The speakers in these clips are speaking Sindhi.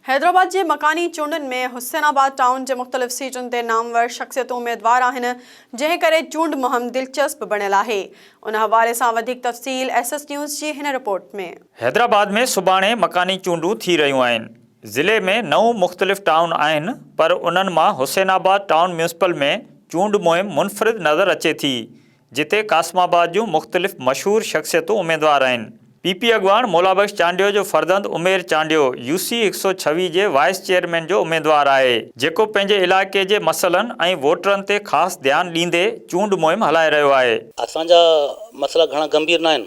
حيدرآباد جي مڪاني چونڊن ۾ حسين آباد ٽائون جي مختلف سيٽن تي نامور شخصيتون اميدوار آهن، جنهن ڪري چونڊ مهم دلچسپ بڻيل آهي. ان حوالي سان وڌيڪ تفصيل ايس ايس نيوز جي هن رپورٽ ۾. حيدرآباد ۾ سڀاڻي مڪاني چونڊون ٿي رهيون آهن، ضلعي ۾ نو مختلف ٽائون آهن پر انهن مان حسين آباد ٽائون ميونسپل ۾ چونڊ مهم منفرد نظر اچي ٿي، جتي قاسم آباد جون مختلف مشهور شخصيتون اميدوار آهن. پي پي اڳواڻ مولا بخش چانڊيو جو فرزند عمير چانڊيو يو سي هڪ سؤ ڇويهه جي وائيس چيئرمين جو اميدوار آهي، جيڪو پنهنجي علائقي جي مسئلن ۽ ووٽرن تي خاص ڌيان ڏيندي چونڊ مهم هلائي رهيو آهي. اسان جا مسئلا گهڻا گنڀير ناهن،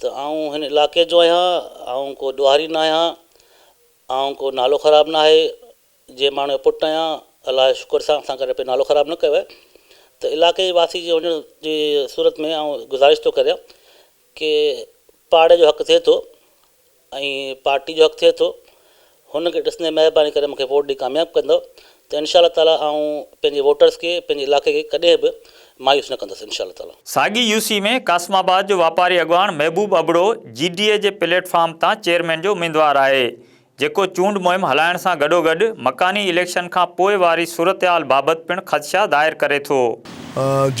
ته آئون هن علاقي جو آهيان، آئون ڪو ڏوهاري نه آهيان، آئون ڪو نالو خراب ناهي، جنهن ماڻهو جو پٽ آهيان، الله جو شڪر سان اسان ڪڏهن نالو خراب نه ڪيو آهي، ته علاقي جي واسي جي هجڻ جي صورت ۾ آئون گذارش ٿو ڪريان ڪي پاڙي جو حق ٿئي ٿو ۽ پارٽي جو حق ٿئي ٿو هن کي ڏسندي مهرباني ڪري مونکي ووٽ ڏئي ڪامياب ڪندؤ ته انشاء الله تعالي آئون پنهنجي ووٽرز کي پنهنجي علائقي کي ڪڏهن به مايوس نه ڪندس انشاء الله تعالي. ساڳي يو سي ۾ قاسم آباد جو واپاري اڳواڻ محبوب ابڙو جي ڊي اي جي پليٽ فارم تان چيئرمين جو اميدوار آهي جيڪو چونڊ مهم هلائڻ سان گڏوگڏ مڪاني اليڪشن کان پوء واري صورتحال بابت پڻ خدشا ظاهر ڪري ٿو.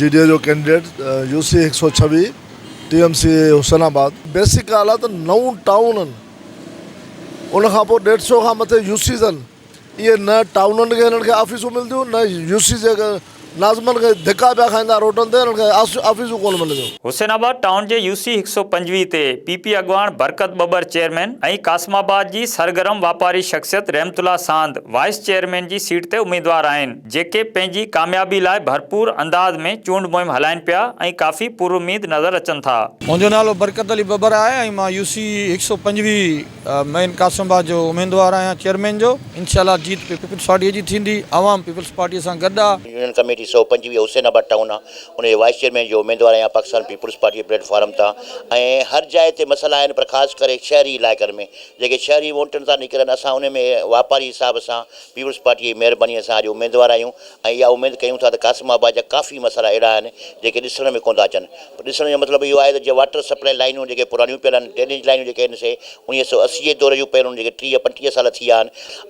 جي ڊي اي جو ڪينڊيڊيٽ يو سي هڪ سؤ ڇويهه ٽي ايم سي اي حسين آباد بيسڪ اعليٰ ته نون ٽائونن ان کان پوء ڏيڍ سئو کان مٿي يو سيز آهن اهي نه ٽائونن کي هنن کي آفيسون ملنديون نه يو سيز کي ناظمن کي ڌڪا پيا کائيندا روڊن تي هنن کي آفيسون ڪونه ملنديون. حسين آباد ٽائون جي يو سي هڪ سئو پنجويهه تي پي پي اڳواڻ برڪت ٻٻر چيئرمين ۽ قاسم آباد جي سرگرم واپاري شخصيت رحمت الله ساند وائيس چيئرمين جي سيٽ تي اميدوار آهن. جيڪي پنهنجي ڪاميابي لاء ڀرپور انداز ۾ چونڊ مهم هلائين پيا ۽ ڪافي پراميد نظر اچن ٿا. منهنجو نالو برڪت علي ٻٻر آهي ۽ مان يو سي هڪ سؤ پنجويهه مئن قاسم آباد جو اميدوار آهيان چيئرمين جو، انشاء الله جيت پيپلز پارٽي جي ٿيندي، عوام پيپلز پارٽي سان گڏ آهي. يونين ڪميٽي سؤ پنجويهه حسين آباد ٽائون آ ان جي وائيس چيئرمين جو اميدوار آهيان پاڪستان پيپلز پارٽي جي پليٽ فارم تان ۽ هر جاء تي مسئلا آهن پر خاص ڪري شهري علائقن ۾ جيڪي شهري وونٽن تان نڪرن اسان ان ۾ واپاري حساب سان پيپلز پارٽيء جي مهربانيء سان اڄ اميدوار آهيون ۽ اها اميد ڪيون ٿا ته قاسم آباد جا ڪافي مسئلا اهڙا آهن، جيڪي ڏسڻ ۾ ڪونه ٿا اچن. ڏسڻ جو مطلب اهو آهي ته جيئن واٽر سپلائي لائينون جيڪي پراڻيون پيل آهن، ڊرينيج لائينون جيڪي آهن سي اڻيهه سؤ اسي جي دور جون پيل هن کي ٽيهه پنجٽيهه سال ٿي ويا آهن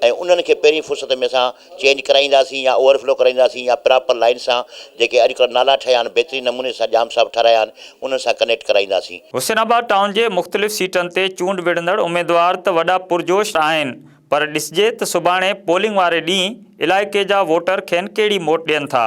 ۽ انهن کي پهرين فرصت ۾ اسان چينج ڪرائينداسين يا اوور فلو ڪرائينداسين يا پراپر لائين سان جيڪي اڄ ڪلهه نالا ٺهيا آهن بهترين نموني سان ڄام صاحب ٺهرايا آهن انهن سان ڪنيڪٽ ڪرائينداسين. حسين آباد ٽائون جي مختلف سيٽن تي چونڊ وڙهندڙ اميدوار ته وڏا پرجوش آهن پر ڏسجي ته سڀاڻي پولنگ واري ڏينهن علائقي جا ووٽر کين ڪهڙي موٽ ڏين ٿا.